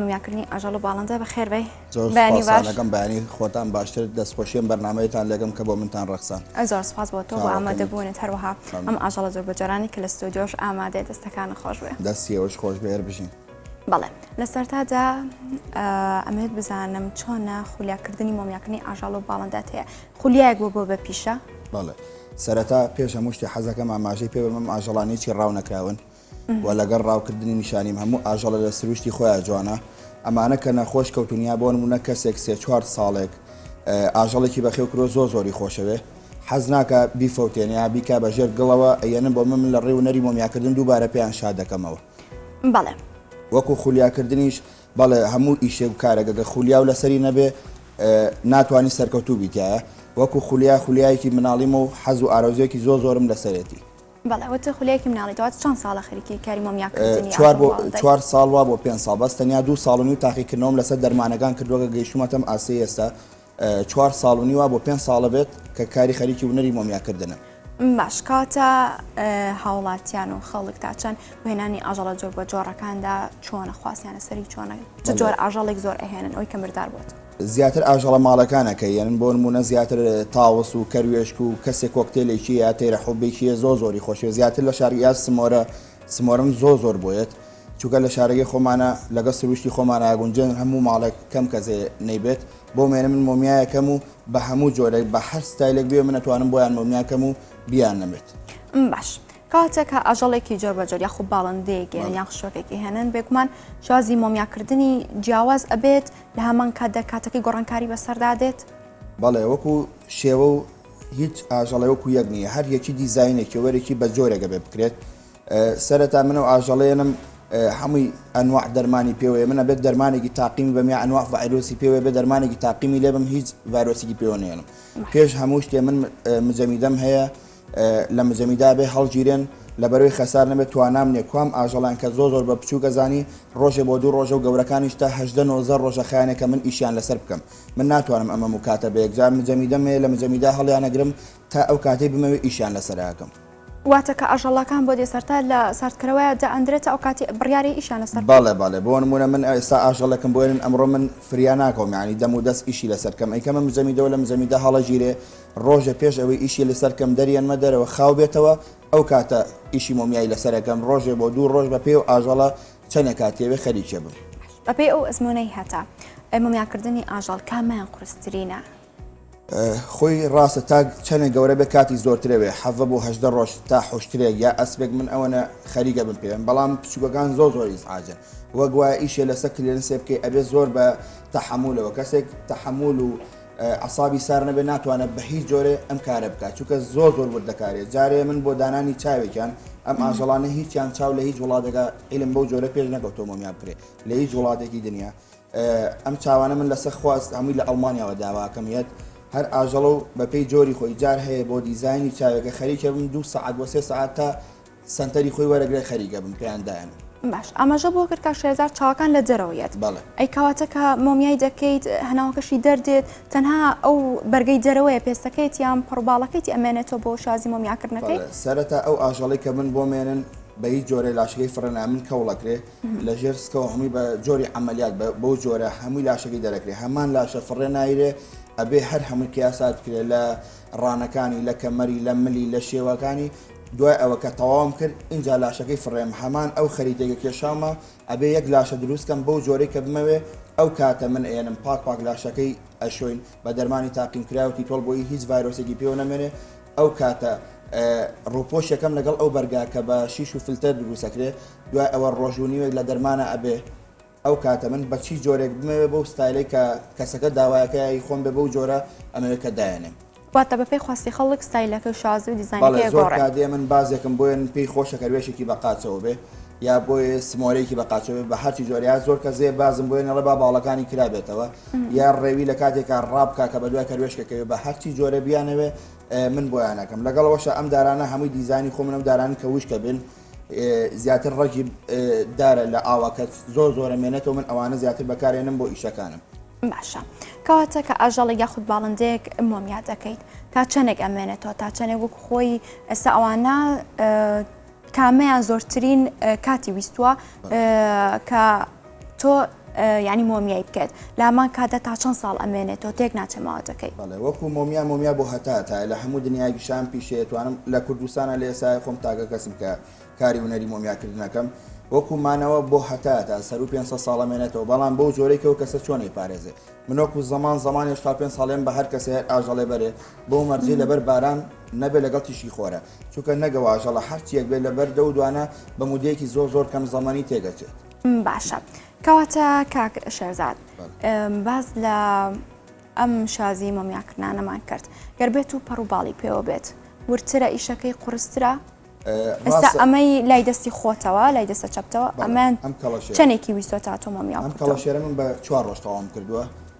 مومیاکردنی ئاژەڵ و باڵندە بەخێر بێی زۆر بەیانی سوپاس باش لەگەم بەیانی خۆتان باشتر دەستخۆشیەم بەرنمەیەتان لەگەم کە بۆ منتان ڕەخسان ئە زۆر سوپاس بۆ تۆ بۆ چاوەکەمت. ئامادەبوونت هەروەها مەمنون. ئەم ئاژەڵە زۆر بەجۆرانی کە لە ستۆدیۆش ئامادەیە دەستەکانت خۆش بێ دەستی ئێوەش خۆش بێ هەربژین بەڵێ لە سەرتادا ئە، ئەمەوێت بزانم چۆنە خولیاکردنی مۆمیاکردنی ئاژەڵ و باڵندات هەیە خولیایەک بۆ بۆ بە پیشە بەڵێ سەرەتا پێش هەموو شتێ حەزەکەم ئاماژەی پێ بەم ئاژەڵانی چی ڕاونەکراون و لەگەڵ ڕاوکردنی نیشانیم هەموو ئاژەڵە لە سروشتی خۆیان جوانە ئەمانە کە نەخۆش کەوتون یا بۆن منە کەسێک سێ چوار ساڵێک ئاژەڵێکی بەخێو کرۆ زۆر زۆری خۆشەوێ حەز ناکە بیفەوتێنیا بیکا بە ژێر گڵەوە ئەیەنم بۆ من من لە ڕێ و نەری مۆمیاکردن دووبارە پێیان شاد دەکەمەوە بەڵێ وەکو خولیاکردنیش بەڵێ هەموو ئیشێک و کارەگەگە خولیا و لەسەری نەبێ ناتوانانی سەرکەوتوو بیتایە وەکو خولیا خولیایەکی مناڵیم و حەز و ئارەزوێکی زۆ زۆرم لەسەرێتی بەڵێ وت خولەیەکی مناڵی تۆ چەند ساڵە خەریکی کاری مۆمیا کردنی چوار بۆ چوار ساڵ وا بۆ پێنج ساڵ بەس تەنیا دوو ساڵ و نیو تاقیکردنەوەم لەسەر دەرمانەکان کردووە کە گەیشتوومەتەم ئاستی ئێستا چوار ساڵ و نیوە بۆ پێنج ساڵە بێت کە کاری خەریکی ونەری مۆمیاکردنم باش کاتە هاوڵاتیان و خەڵک تا چەند وێنانی ئاژەڵە جۆر بە جۆڕەکاندا چۆنە خواسیانە سەری چۆنە جۆر ئاژەڵێک زۆر ئەهێنن ئەوی کە مردار بۆت زیاتر ئاژەڵە ماڵەکانە کە یەن بۆ نمونە زیاتر تاوس و کەروێشک و کەسێ کۆکتێلێکی یا تەیرە حوبێکی زۆ زۆری خۆشێ زیاتر لە شار یا سمۆرە سمۆرم زۆ زۆر بۆیەت چونکە لە شارەکەی خۆمانە لەگە سروشتی خۆمان ئاگونجێن هەموو ماڵێک کەم کەزێ نەیبێت بۆ مێنە من مۆمیایەکەم و بە هەموو جۆرەی بە هەر ستایلێک بێ من ئەتوانم بۆیان مۆمیاکەم و بیان نەمێت باش کاتێک کە ئاژەڵێکی جۆربەجۆر یاخود باڵندەیەک یان یان خشۆکێکی هێنن بێگومان شازی مۆمیاکردنی جیاواز ئەبێت لە هەمان کاتدا کاتەکەی گۆڕانکاری بەسەردا دێت؟ بەڵێ وەکو شێوە و هیچ ئاژەڵێ وەکو یەک نییە هەر یەکی دیزاینێکی وەرێکی بە جۆرێکە بێ بکرێت سەرەتا من و ئاژەڵێنم هەمووی ئەنواع دەرمانی پێوەیە منە بێت دەرمانێکی تاقیمی بەم یا ئەنواع ڤایرۆسی پێوە بێ دەرمانێکی تاقیمی لێ بم هیچ ڤایرۆسیی پێوەێنم پێش هەموو شتێ من مجەمیدەم هەیە لە مزەمیدا بێ هەڵگیرێن لە بەروی خەسار نەبێ توانام نیە کوام ئاژەڵیان کە زۆر زۆر بە بچوک ئەزانی ڕۆژێ بۆ دوو ڕۆژە و گەورەکانیش تا هەژدە نۆزدە ڕۆژە خایەنێکە من ئیشیان لەسەر بکەم من ناتوانم ئەمەم و کاتە بە یەکجار مزەمیدەم هەیە لە مزەمیدا هەڵیانەگرم تا ئەو کاتەی بمەوێ ئیشیان لەسەر ئەکەم. واتە کە ئاژەڵەکان بۆ دێسەرتا لە ساردکەرەوەیا دائەندرێت تا ئەو کاتی بڕیارە ئیشیان لەسەر بکەم. بەڵێ بەڵێ بۆ نمونە من ئێستا ئاژەڵێکم بۆێنن ئەمڕۆ من فریا ناکەوم یانی دەم و دەست ئیشی لەسەر کەم ئەیکەمە مزەمیدەوە لە مزەمیدا هەڵەگیرێ ڕۆژێ پێش ئەوەی ئیشی لەسەر کەم دەریەنمە دەرەوە خاو بێتەوە ئەو کاتە ئیشی مۆمیایی لەسەر ئەکەم ڕۆژێ بۆ دوو ڕۆژ بەپێی ئەو ئاژەڵە چەنێ کاتی ئەوێ خەریکێ بم. بەپێی ئەو ئەزموونەی هەتە ئەی مۆمیا کردنی ئاژەڵ کامیان قورسترینە؟ خۆی ڕاستە تا چەنێ گەورە بێ کاتی زۆرترە وێ حەڤە بۆ هەژدە ڕۆژ تا حوشترێک یا ئەسپێک من ئەوەنە خەریکە بم پێێن بەڵام پچووکەکان زۆ زۆر ئیزعاجن وەگوایە ئیشێ لەسە کلێنسێ بکەی ئەبێ زۆر بە تەحەمولەوە کەسێک تەحەمول و عەسابی سار نەبێ ناتوانێ بە هیچ جۆرێ ئەم کارە بکا چونکە زۆر زۆر وردە کارێ جارێ من بۆ دانانی چاوێکیان ئەم ئاژەڵانە هیچیان چاو لە هیچ وڵاتێکا عیلم بەو جۆرە پێش نەکەوتۆ مۆمیان بکرێ لە هیچ وڵاتێکی دنیا ئەم چاوانە من لەسەر خواست هەمووی لە ئەڵمانیاوە داواکەم یەت هەر ئاژەڵە و بەپێی جۆری خۆی جار هەیە بۆ دیزایانی چاوێکە خەریکە بم دوو سەعات بۆ سێ سەعات تا سەنتەری خۆی وەرەگرێ خەریکە بم پێیان دایەنم. باش ئاماژە بۆ کرد کە شێزار چاوەکان لە جەرەوەیەت ئەی کەواتە کە مۆمیای دەکەیت هەناوەکەشی دەردێت تەنها ئەو بەرگەی جەرەوەیە پێستەکەیت یان پڕباڵەکەیتی ئەمێنێتەوە بۆ شازی مۆمیاکردنەکەی سەرەتا ئەو ئاژەڵی کە من بۆ مێنن بە هیچ جۆرە لاشەکەی فڕێنا من کەوڵەکرێ لە ژێر سکەوە هەمووی بە جۆری عملیات بەو جۆرە هەمووی لاشەکەی دەرەکرێ هەمان لاشە فڕێ نایرێ ئەبێ هەر هەمووی کیاسات کرێ لە ڕانەکانی لە کەمەری لە ملی لە شێوەکانی دوای ئەوە کە تەواوم کرد ئینجا لاشەکەی فڕێم هەمان ئەو خەریتەی کە کێشاومە ئەبێ یەک لاشە دروست کەم بەو جۆرەی کە بمەوێ ئەو کاتە من ئەیەنم پاک پاک لاشەکەی ئەشۆین بە دەرمانی تاقیم کراو تیتۆڵ بۆیی هیچ ڤایرۆسێکی پێوە نەمێنێ ئەو کاتە ڕوپۆش یەکەم لەگەڵ ئەو بەرگا کە بە شیش و فلتەر دروست ئەکرێ دوای ئەوە ڕۆژ و نیوێک لە دەرمانە ئەبێ ئەو کاتە من بە چی جۆرێک بمەوێ بەو ستایلەی کە کەسەکە داوایەکە ی خۆم بێ بەو جۆرە ئەمەوێ کە دایەنێم. واتە بەپێی خواستی خەڵک ستایلەکە و شازی و دیزاینەکەی بەڵێ زۆر ئەگۆڕێ. کات دێ من بازێکم بۆیە من پێی خۆشە کە روێشێکی بە قاچەوە بێ یا بۆیێ سمۆلەیەکی بە قاچەوە بێ بە هەرچی جۆرە یا زۆر کەس دێ بازم بۆیە نەڵێ با باڵەکانی کرابێتەوە یا رێوی لە کاتێکا رابکا کە بە دوای کەروێشکەکە بێ بە هەرچی جۆرە بیانەوێ من بۆیان ئەکەم لەگەڵ ئەوەشا ئەم دارانە هەمووی دیزاینی خۆمن ئەو دارانەن کە وشکە بێن زیاتر ڕەگی دارە لە ئاوەکە زۆر زۆرە مێنێتەوە من ئەوانە زیاتر بەکارێنم بۆ ئیشەکانم باشە کەواتە کە ئاژەڵی یاخود باڵندەیەک مۆمیا دەکەیت تا چەندێک ئەمێنێتەوە تا چەندێک وەک خۆی ئێستا ئەوانە کامەیان زۆرترین کاتی ویستووە کە تۆ ینی مۆمیای بکەێت لامان کاتە تا چەند ساڵ ئەمێنێت تۆ تێک ناچێ ماوەتەکەی بەڵێ وەکو مۆمیا مۆمیا بۆ هەتا تا لە هەموو دنیای گشان پیشێتوانم لە کوردستانە لە ئێسای خۆم تاگە کەسم کە کاری ونەری مۆمیاکردنەکەم وەکو مانەوە بۆ هەتا تا سەر و 500 ساڵە مێنێتەوە بەڵام بەو جۆرێکەوە کەسە چۆنی پارێزێ منۆکو زمان زمان هێشتا پێ ساڵێن بە هەر کەسێ ئاژەڵێ بەرێ بۆ مەرجی لەبەر باران نەبێ لەگەڵ تیشی خۆرە چونکە نەگەواژەڵە هەرچیەک بێ لەبەر دە و دوانە بە مودەیەکی زۆر زۆر کەم زمانی تێگەچێت باشە کەواتە کاک شێرزاد باز لە ئەم شازی مۆمیاکردانەمان کرد گەر بێت و پەڕوباڵی پێوە بێت ورترە ئیشەکەی قورسترە ئێستا ئەمەی لای دەستی خۆتەوە لای دەستە چەپتەوە ئەمان ئەم کەڵەشێنێکی ویسۆ تا تۆمەمیان ئەم کەڵەشێرە من بە چوار ڕۆژ تەواوم کردووە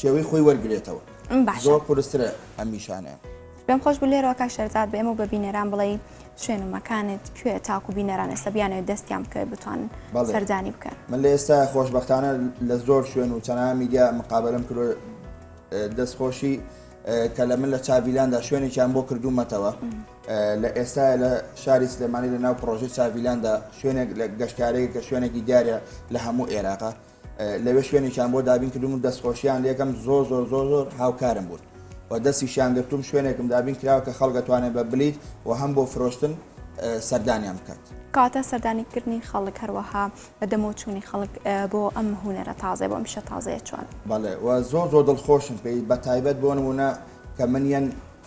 شێوەی خۆی وەرگرێتەوە زۆر قورسترە ئەم نیشانەیە. پێم خۆش بوو لێرەوە کاک شەرزاد بە ئێمە و بە بینەران بڵێی شوێن و مەکانت کوێ تاکو بینەران ئێستا بیانەوێت دەستیان بکەوێت بتوانن بەڵێ. سەردانی بکەن من لە ئێستا خۆشبەختانە لە زۆر شوێن و چەناها میدیا مقابەلەم کردو دەستخۆشی کە لە من لە چاڤیلاندا شوێنێکیان بۆ کردوومەتەوە لە ئێستا لە شاری سلێمانی لە ناو پڕۆژەی چاڤیلاندا شوێنێک لە گەشتارەیە کە شوێنێکی دیارە لە هەموو عێراقا لەوێ شوێنێکیان بۆ دابین کردووم و دەستخۆشییان لێ ئەکەم، زۆر زۆر زۆر زۆر هاوکارم بوون و دەستیشیان گرتووم، شوێنێکم دابین کراوە کە خەڵک ئەتوانێت بە بلیت و هەم بۆ فرۆشتن سەردانیان بکات. کەواتە سەردانیکردنی خەڵک هەروەها بە دەمەوە چوونی خەڵک بۆ ئەم هونەرە تازەیە، بۆ ئەم شتە تازەیە چۆنە؟ بەڵێ، و زۆر زۆر دڵخۆشم پێی، بەتایبەت بۆ نموونە کە من یەن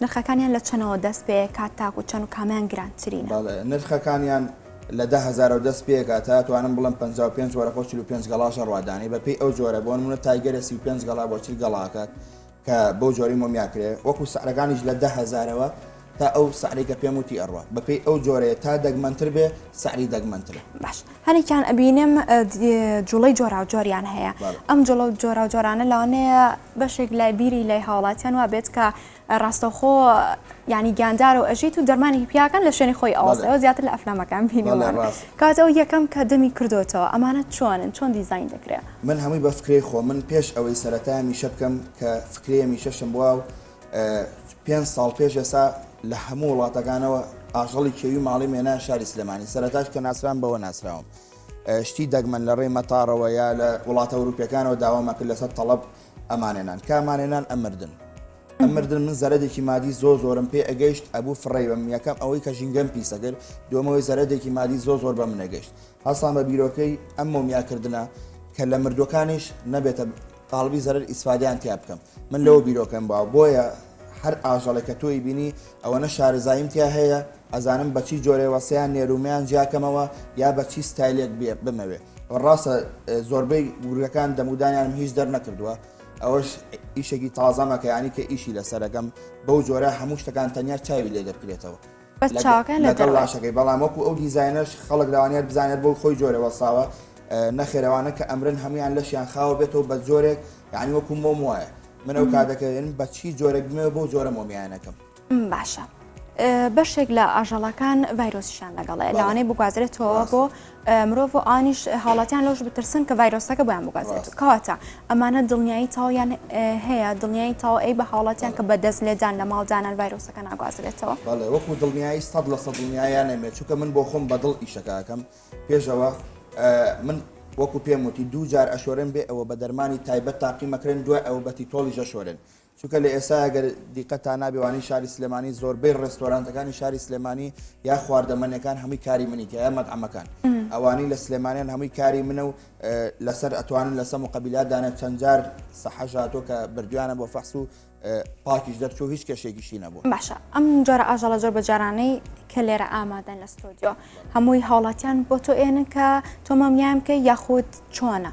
نرخەکانیان لە چەنەوە دەست پێکات تاکو چەن و کامیان گرانترینە؟ بەڵێ نرخەکانیان لە دە هەزارەوە دەست پێکات تا توانم بڵێم پەنجا و پێنج وەرەقە و چل و پێنج گەڵاشە ڕوادانی بە پێی ئەو جۆرە بۆ نمونە تایگەرە سی و پێنج گەڵا بۆ چل گەڵاکات کە بەو جۆری مۆمیا کرێ وەکو سعرەکانیش لە دە هەزارەوە تا ئەو سعرەی کە پێم وتی ئەڕوا بە پێی ئەو جۆرەیە تا دەگمەنتر بێ سعری دەگمەنترە. باش هەنێکیان ئەبینم جوڵەی جۆراوجۆریان هەیە ئەم جوڵە جۆراوجۆرانە لەوانەیە بەشێک لای بیری لای هاوڵاتیان وا بێت کە ڕاستەخۆ ینی گیاندار و ئەژیت و دەرمانی پیاکان لە شوێنی خۆی ئەوەسەوە زیاتر لە ئەفلامەکان بینەوە کاتەوە یەکەم کە دەمی کردوتەوە ئەمانە چۆنن چۆن دیزین دەکرێت من هەمووی بە فکرەی خۆ من پێش ئەوەی سەرەتا میشە بکەم کە فکرەیە میشەشم بوە و پێنج ساڵ پێش ئێستا لە هەموو وڵاتەکانەوە ئاژەڵی کێوی ماڵیم هێنایە شاری سلێمانی، سەرەتاش کە ناسرام بەوە ناسراوم شتی دەگمەن لە ڕێی مەتاڕەوە یا لە وڵاتە ئەوروپیەکانەوە داوام ئەکرد لەسەر تەڵەب ئەمانێنان کە ئەمانێنان ئەمردن ئەمردن من زەرەدێکی مادی زۆ زۆرم پێ ئەگەیشت ئەبوو فڕێی بەم یەکەم ئەوەی کە ژینگەم پیسەکرد دومەوەی زەرەدێکی مادی زۆ زۆر بە منەگەشت هەستان بە بیرۆکەی ئەم مۆمیاکردنە کە لە مردووەکانیش نەبێتە قاڵبی زەرەر ئیسفادەیان تیا بکەم. من لەوە بیرۆکەم باوە بۆیە هەر ئاژەڵێک کە تۆی بینی ئەوەنە شارەزاییم تیا هەیە ئەزانم بە چی جۆرێوە سەیان نێرو مەیان جیا کەمەوە یا بە چی ستایلێک بێ بمەوێ و ڕاستە زۆربەی گورگەکان دەمودانیانم هیچ دەرنەکردووە ئەوەش ئیشێکی تازەمە کە یانی کە ئیشی لەسەرەکەم بەو جۆرە هەموو شتەکان تەنیا چاوی لێ دەکرێتەوە بەس چاوەکان لە لەگەڵ دەرەوەی. لاشەکەی بەڵام وەکو ئەو دیزاینەش خەڵک لەوانەیە بزانێت بۆ خۆی جۆرێ وەستاوە نەخێر ئەوانە کە ئەمرن هەموویان لەشیان خاوە بێتەوە بە جۆرێک یانی وەکو مۆم وایە من ئەو کاتەکە ئێن بە چی جۆرێک بمێوە بۆ جۆرە مۆمیانەکەم. م باشە بەشێک لە ئاژەڵەکان ڤایرۆسیشان لەگەڵەیە لەوانەیە بگوازرێتەوە بۆ مرۆڤ و ئانیش حاڵاتیان لەوش بترسن کە ڤایرۆسەکە بۆیان بگازێت کەواتە ئەمانە دڵنیایی تاویان هەیە دڵنیایی تاو ئەی بە حاڵاتیان کە بەدەست لێدان لە ماڵدانان ڤایرۆسەکە ناگوازرێتەوە بەڵێ وەکو دڵنیایی سەد لە سەد دڵنیایان نەمێت چونکە من بۆ خۆم بەدڵ ئیشەکەکەم پێشەوە من وەکو پێم وتی دوو جار ئەشۆرێن بێ ئەوە بە دەرمانی تایبەت تاقیمەکرێن دوای ئەوە بەتی تۆڵی ژەشۆرێن چونکە لە ئێستایا گەر دیقەتتان نابێ وانەی شاری سلێمانی زۆربەی ڕێستۆرانتەکانی شاری سلێمانی یا خواردەمەنیەکان هەمووی کاری منی تیا مەتعەمەکان ئەوانی لە سلێمانیان هەمووی کاری منە و لەسەر ئەتوانن لە سەم و قبیلا دانێت چەندجار سەحەژاتۆ کە بردویانە بۆ فەحس و پاکیش دەرچوو هیچ کەشێکیشی نەبوو باشە ئەم جارە ئاژەڵە زۆر بە جارانەی کە لێرە ئامادەن لە ستۆدیۆ هەمووی هاوڵاتیان بۆ تۆ ئێنن کە تۆمەمیان بکە یاخود چۆنە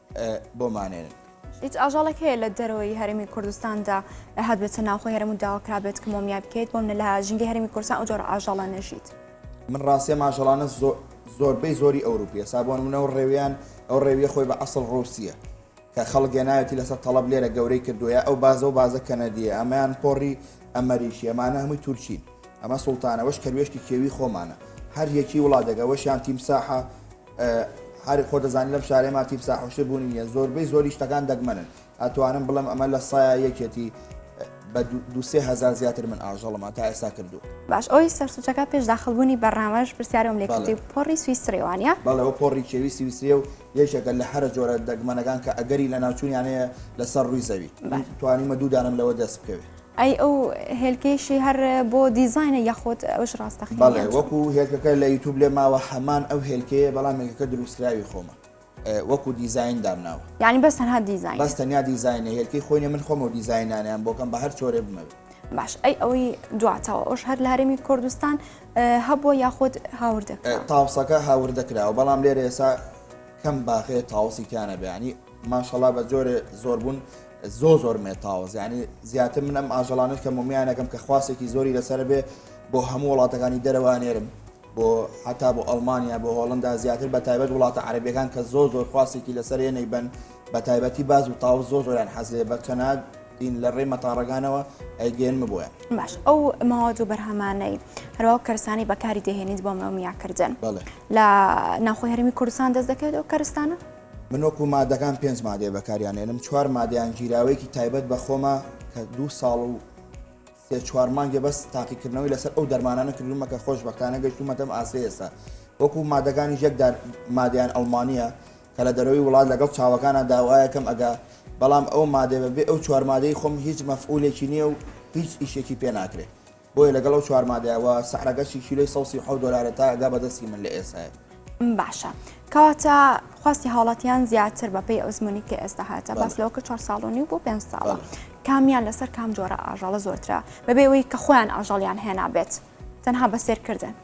بۆمانێنن. هیچ ئاژەڵێک هەیە لە دەرەوەی هەرێمی کوردستاندا هاتبێتە ناوخۆی هەرێم و داواکرابێت کە مۆمیای بکەیت بۆم لە ژینگەی هەرێمی کوردستان ئەو جۆرە ئاژەڵە نەژیت من ڕاستیە ماژەڵانە زۆربەی زۆری ئەوروپیە سابۆن منە و ڕێویان ئەو ڕێویە خۆی بە ئەسڵ ڕوسیە کە خەڵک گەناوێتی لەسەر تەڵب لێرە گەورەی کردووە ئەو بازە و بازە کەنەدیە ئەمەیان پۆڕی ئەمەریشی ئەمانە هەمووی تورکین ئەمە سوڵتانەوەش کەروێشکی کێوی خۆمانە هەر یەکی وڵاتێکەوەشیان تیمساحە هەر خۆت دەزانی لەم شارەی ما تیف ساحوشتر بوونی نیە زۆربەی زۆری شتەکان دەگمەنن ئەتوانم بڵێم ئەمە لە سایە یەکێتی بە دو سێ هزار زیاتر من ئاژەڵمان تا ئێستا کردو باش ئەوی سەرسوچەکە پێش داخلبوونی بەرنامەش پرسیارم لێ کردی پۆڕی سویسری وانە بەڵەوە پۆڕی کێوی سویسری و یەکێکە لە هەرە جۆرە دەگمەنەکان کە ئەگەری لە ناوچوونیانەیە لەسەر ڕووی زەوی توانیمە دوو دانم لەوە دەست بکەوێت. ئەی ئەو هێلکەیشی هەر بۆ دیزاینە یاخود ئەوش ڕاستەقینە؟ بەڵێ وەکو هێلکەکە لە یوتوب لێ ماوە هەمان ئەو هێلکەیە بەڵام هێلکەکە دروستکراوی خۆمە وەکو دیزاین دامناوە. یانی بەس تەنها دیزاینە؟ بەس تەنیا دیزاینە هێلکەی خۆی نیە من خۆم ئەو دیزاینانەیان بۆ کەم بە هەر چۆرێ بمەوێ. باش ئەی ئەوەی دواتەوە ئەوش هەر لە هەرێمی کوردستان هەبووە یاخود هاوردە کرا؟ تاوسەکە هاوردە کراوە بەڵام لێرە ئێسا کەم باغێ تاوسی تیا نەبێ یانی ماشەڵا بە جۆرێ زۆر بوون زۆر زۆر مێتاوەز یعنی زیاتر من ئەم ئاژەڵانەی کە مۆمیانەکەم کە خواستێکی زۆری لەسەر بێ بۆ هەموو وڵاتەکانی دەرەوانێرم بۆ حتا بۆ ئەلمانیا بۆ هۆڵندا زیاتر بە تایبەت وڵاتە عربیەکان کە زۆر زۆر خواستێکی لەسەر ێنەی بن بە تایبەتی باز و تاو زۆر زۆریان حەزێ بە چەنات دین لە ڕێ مەتاڕگانەوە ئەیگەێن ببووە باش ئەو ماوەت و بەرهەمانەی هەروا کەرسانی بەکاری دەهێنیت بۆ مەمیاکردن لە ناخۆ هەرمی کوردستان دەست دەکەێت ئەو کەرستانە من وەکو مادەکان پێنج مادەیە بەکاریانێنم چوار مادەیان گیراوەیەکی تایبەت بە خۆمە کە دوو ساڵ و سێ چوار مانگێ بەس تاقیکردنەوەی لەسەر ئەو دەرمانانە کردومە کە خۆش بەختانە گەشتومەتەم ئاستی ئێستا وەکو مادەکانی یەکدار مادەیان ئەڵمانە کە لە دەرەوەی وڵات لەگەڵ چاوەکانە داوایەکەم ئەگا بەڵام ئەو مادەێ بەبێ ئەو چوارمادەی خۆم هیچ مەفعولێکی نییە و هیچ ئیشێکی پێ ناکرێت بۆیە لەگەڵ ئەو چوار مادەیە وە سعرەگەشی کیلۆی سەو سی و حەوت دۆلارە تا ئەگا بە دەستی من لە ئێسای. باشە کەواتە خواستی هاوڵاتیان زیاتر بە پێی ئەزمونی کە ئێستا هاتە باس لەوە کە چوار ساڵۆنی بۆ پێنج ساڵە کامیان لەسەر کام جۆرە ئاژەڵە زۆرترە بەبێەوەی کە خۆیان ئاژەڵیان هێنابێت تەنها بە سێرکردن.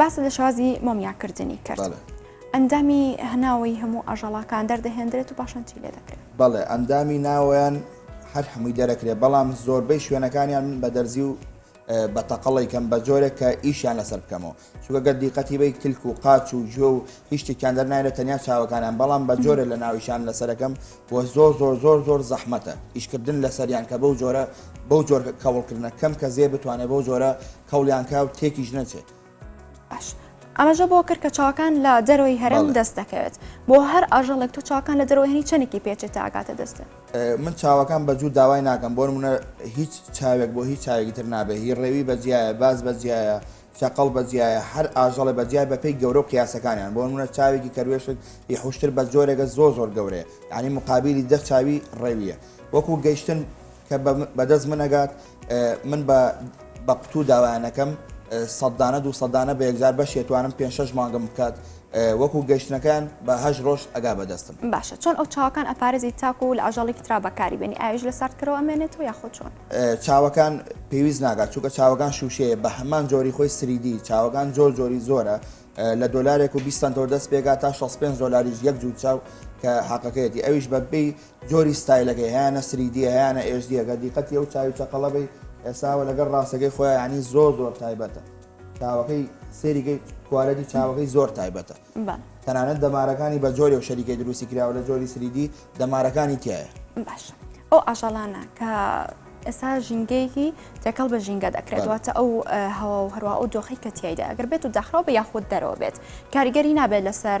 باست لە شازی مۆمیاکردنی کرد. بەڵێ. ئەندامی هەناوەی هەموو ئاژەڵاکان دەردەهێندرێت و پاشان چی لێ دەکرێت؟ بەڵێ ئەندامی ناوەیان هەر هەمووی دەرەکرێ بەڵام زۆربەی شوێنەکانیان من بە دەرزی و بە تەقەڵی کەم بە جۆرێک کە ئیشیان لەسەر بکەمەوە چونکە گەر دیقەتی بەی تلک و قاچ و گوێ و هیچ شتێکیان دەرنایرێت تەنیا چاوەکانیان بەڵام بە جۆرێ لە ناویشان لەسەرەکەم و زۆر زۆر زۆر زۆر زەحمەتە ئیشکردن لەسەریان کە بەو جۆرە بەو جۆر کەوڵکردنە کەم کە زێ بتوانێت بەو جۆرە کەوڵیان کا و تێکیش نەچێت. باش ئاماژە بۆ کرد کە چاوەکان لە دەرەوەی هەرم بەڵێ. دەست دەکەوێت بۆ هەر ئاژەڵێک تۆ چاوەکان لە دەرەوەی هەنی چەندێکی پێچێت تا ئەگاتە دەستت؟ من چاوەکان بە جوور داوای ناکەم بۆ نموونە هیچ چاوێک بۆ هیچ چاوێکی تر نابێ هی ڕێوی بە جیایە باز بە جیایە چەقەڵ بە جیایە هەر ئاژەڵێ بە جیای بەپێی گەورە و قیاسەکانیان بۆ نموونە چاوێکی کەروێشک ی حوشتر بە جۆرێکە زۆر زۆر گەورەیە یانی مقابیلی دە چاوی ڕێویە وەکوو گەیشتن کە بە بە دەست من ئەگات من بە بە قوتوو داوایانەکەم سەددانە دوو سەددانە بە یەکجار بەشێتوانم پێ شش مانگم بکات وەکو گەشتنەکان بە هەش ڕۆژ ئەگا بەدەستم باشە چۆن ئەو چاوەکان ئەپارێزی تاکو و لە ئاژەڵێکی ترا بەکاری بێنی ئاویش لە ساردکەرەوە ئەمێنێت و یاخۆ چۆن چاوەکان پێویست ناگات چونکە چاوەکان شووشەیە بە هەمان جۆری خۆی سریدی چاوەکان زۆر جۆری زۆرە لە دۆلارێک و بیستان تۆ دەست پێگا تا 65 دۆلاریش یەک جوو چاو کە حەقەکەیەتی ئەویش بە بی جۆری ستایلەکەی هەیانە سریدیە هەیانە ئێژدیە گەر دیقەتی ئەو چاوی چەقەڵە بی ئێساوە لەگەر ڕاستەکەی خۆیان ینی زۆر زۆر تایبەتە چاوەکەی سێریگەی کوالەتی چاوەکەی زۆر تایبەتە تەنانەت دەمارەکانی بە جۆری و شەریکەی دروستی کراوە لە جۆری سریدی دەمارەکانی تایە باش ئەو ئاژەڵانە کە ئێستا ژینگەیەکی تێکەڵ بە ژینگە دەکرێتواتە ئەو هەوا و هەروە ئەو دۆخی کە تایدا ئەگەر بێت و داخراو بە یاخود دەرەوە بێت کاریگەری نابێت لەسەر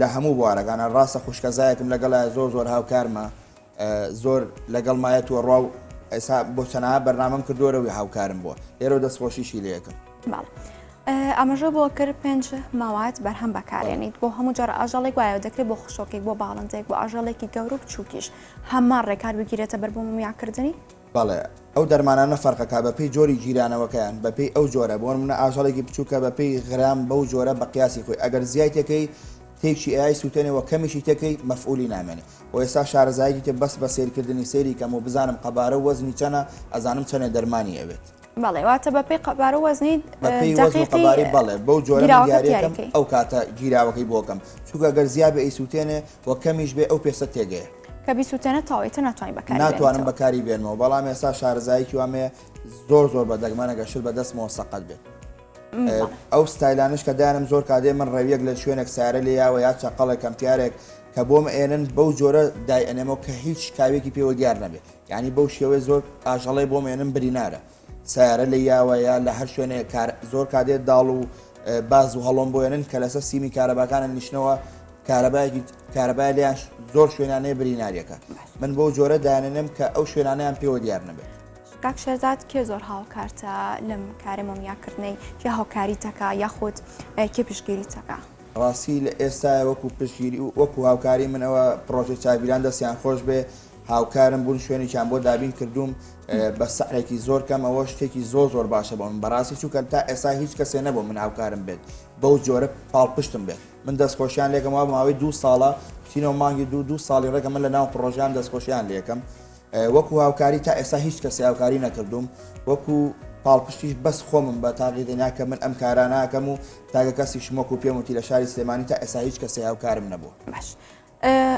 لە هەموو بوارەکانا ڕاستە خوشکە زایەکم لەگەڵایە زۆر زۆر هاوکارمە زۆر لەگەڵ مایە تووە ڕوا و ئێسا بۆ چەنا بەرنامەم کردۆرەوەی هاوکارم بووە لێرە دەستخۆشیشی لەکەم ئەمەژە بۆ کرد پێنج ماوات بەرهەم بەکارێنیت بۆ هەموو جار ئاژەڵێک وایە دەکرێت بۆ خشۆکێک بۆ باڵندێک بۆ ئاژەڵێکی گەورە و چووکیش هەممان ڕێکار بگیرێتە بەر بۆ میاکردنی بەڵێ ئەو دەرمانانە فەرقەکە بەپێی جۆری گیرانەوەکەیان بەپێی ئەو جۆرە بۆنمونە ئاژەڵێکی بچوکە بەپێی غرام بەو جۆرە بەقیاسی خۆی ئەگەر زیای تێکەی تێکی ئەیای سوتێنێ وە کەمیشی تێکەی مەفعولی نامێنێ وە ئێستا شارەزایەکی تێ بەس بە سەیرکردنی سەیری کەم و بزانم قەبارە و وەزنی چەنە ئەزانم چەنێ دەرمانی ئەوێت. بەڵێ واتە بەپێی قەبارە و وەزنی بەپێی وەزن و قەباری بەڵێ بەو جۆرە من دیاریەکەم ئەو کاتە گیراوەکەی بۆکەم چونکە گەر زیابێ ئەیسوتێنێ وە کەمیش بێ ئەو پێستە تێگەیە. کە بیسوتێنێت تەواوی تر ناتوانین بەکاری بێنیتەوە. ناتوانم بەکاری بێنمەوە بەڵام ئێستا شارەزاییکی وام هەیە زۆر زۆر بە دەگمەن ئەگەر شت بە دەستمەوە سەقەت بێت ئەو ستایلانەش کە دایانم زۆر کادێ من ڕێویەک لە شوێنێک سارە لێ یاوە یا چەقەڵێک کەمپیارێک کە بۆم ئێنن بەو جۆرە دای ئەنێمەوە کە هیچ کاوێکی پێوە دیار نەبێت یعنی بەو شێوەی زۆر ئاژەڵی بۆم ئێنم برینارە سەیارە لە یاوە یا لە هەر شوێنێ کار زۆر کادێت داڵ و باز و هەڵۆم بۆێنن کە لەسەر سیمی کارەباکانە نیشتنەوە کارەبایەکی کارەبای لێیان زۆر شوێنانەیە بریناریەکە من بۆ جۆرە دانێنم کە ئەو شوێنانیان پێوە دیار نەبێت کاک شێزاد کێ زۆر هاوکارتە لەم کارە مۆمیاکردنەی کێ هاوکاری تەکە یاخود کێ پشگیری تەکە ڕاستی لە ئێستا وەکو پشگیری و وەکو هاوکاری منەوە پرۆژەی چاویلان دەستیان خۆش بێ هاوکارم بوون شوێنێکیان بۆ دابین کردووم بە سەعرێکی زۆر کەم ئەوە شتێکی زۆر زۆر باشە بۆ من بەڕاستی چووکە تا ئێستا هیچ کەسێ نەبوو من هاوکارم بێت بەو جۆرە پاڵپشتم بێت من دەستخۆشیان لێکم وا ماوەی دوو ساڵە تینەوە مانگی دوو دوو ساڵی ڕێگە من لە ناو پرۆژیان دەستخۆشیان لەکەم وەکو هاوکاری تا ئێستا هیچ کەسی هاوکاری نەکردوم وەکو پاڵپشتیش بەس خۆمم بە تاقی دنیاکە من ئەم کاراناکەم و تاگە کەسی شمۆک و پێم وتی لە شاری سلێمانی تا ئێسا هیچ کەسی هاوکارم نەبوو باش.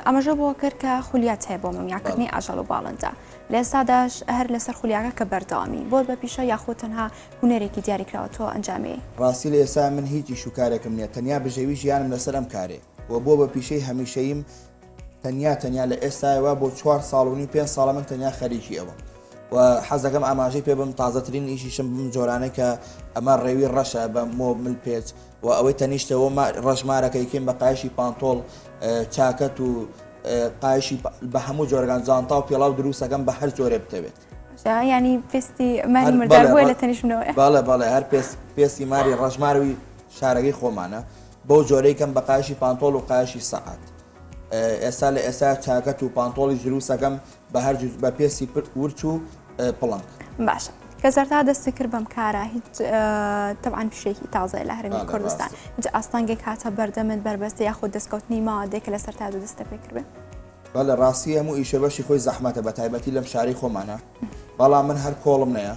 ئاماژە بەوە کرد کە خولیات هەیە بۆ مۆمیاکردنی ئاژەڵ و باڵندە، لە ئێستاداش هەر لەسەر خولیاکە کە بەردەوامی بۆت بە پیشە یاخود تەنها هونەرێکی دیاریکراوە تۆ ئەنجامی؟ ڕاستی لە ئێستا من هیچ ئیش و کارێکم نییە، تەنیا بژێوی ژیانم لەسەر ئەم کارێ و بووە بە پیشەی هەمیشەییم، تەنیا تەنیا لە ئێستایەوە بۆ چوار ساڵ و نیو پێنج ساڵە من تەنیا خەریکی ئەوەم و حەز دەکەم ئاماژەی پێ بم، تازەترین ئیشیشم بم جۆرانەی کە ئەمە ڕێوی ڕەشە بە مۆ مل پێچ، و ئەوەی تەنیشتە و ڕەشمارەکەی کێم بە قایشی پانتۆڵ چاکەت و قایشی بە هەموو جۆرگان جانتا و پێڵاو دروستەکەم بە هەر جۆرێ بتەوێت ینی پێستی ماری مردار بۆ لە تەنیشمنەوە باڵە باڵێ هەر پێست پێستی ماری ڕژماروی شارەکەی خۆمانە بەو جۆرەی کەم بەقاشی پانتۆڵ و قاشی سەعات ئێستا لە ئێستا چاکەت و پانتۆڵی زروسەکەم بە هەر جور بە پێستی پرت ورچ و پڵنگ. باشە کە سەرتا دەستی کرد بەم کارە هیچ تەعاان پیشێکی تازای لە هەرمی کوردستان جا ئاستانگێک هاتە بەردەمت بەربەستی یاخود دەستکەوتنی ما دێک لە سەر تا دوو دەستە پێکردێ بە لە ڕاستی هەموو ئیشە بەشی خۆی زەحمەتە بە تایبەتی لەم شاری خۆمانە بەڵام من هەر کۆڵم نەیە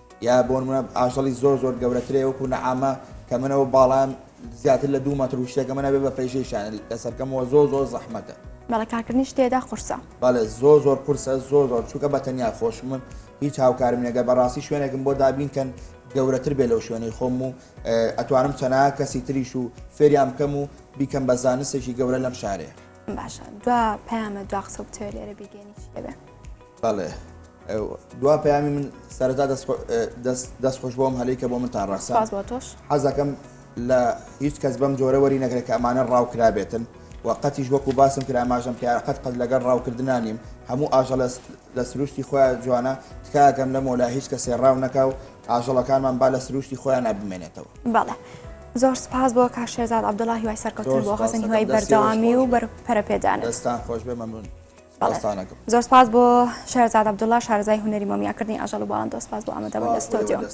یا بۆنمونە ئاژەڵی زۆر زۆر گەورەترێ وەکو نەعامە کە منەوە باڵام زیاتر لە دوو مەتر وشتێکە منە بێ بە پێشیشان لەسەرکەمەوە زۆ زۆر زەحمەتە بەڵە کارکردنی شتێدا قورسە بەڵێ زۆ زۆر قورسە زۆ زۆر چووکە بە تەنیا خۆشمم هیچ هاوکارمنەگە بەڕاستی شوێنێکم بۆ دابینکەن گەورەتر بێ لەو شوێنەی خۆم و ئەتوانم چەنا کەسی تریش و فێریان بکەم و بیکەم بە زانستێکی گەورە لەم شارێ باشە دو پەیامە دو قسە بتوێ لێرە بیگەێنی شێبێ بەڵێ دوا پەیامی من سەرەتا دەست خۆش بۆم هەلی کە بۆ من تا ڕاستە حەزەکەم لە هیچ کەس بەم جۆرە وەری نەگرێت کە ئەمانە ڕاوکرابێتن و قەتیش وەکو باسم کرا ئاماژەم پێ قەت قەت لەگەڵ ڕاوکردنا نیم هەموو ئاژە لە سروشتی خۆیان جوانە تکاگەم لە مۆلا هیچ کە سێڕاو نەکا و ئاژەڵەکانمان با لە سروشتی خۆیان نابمێنێتەوە بەڵێ. زۆر سپاس بۆ کا شێزاد عبدڵی وای سەرکەوتن بۆ خەزن هیوای بەردەوامی و بەر پەرەپێدان دەستان خۆش بێ مەمنون. داستانەکەم. زۆر سپاس بۆ شێرزاد عەبدوڵا شارەزای هونەری مۆمیاکردنی ئاژەڵ و باڵندە سپاس بۆ ئامادەبوون لە ستۆدیۆ.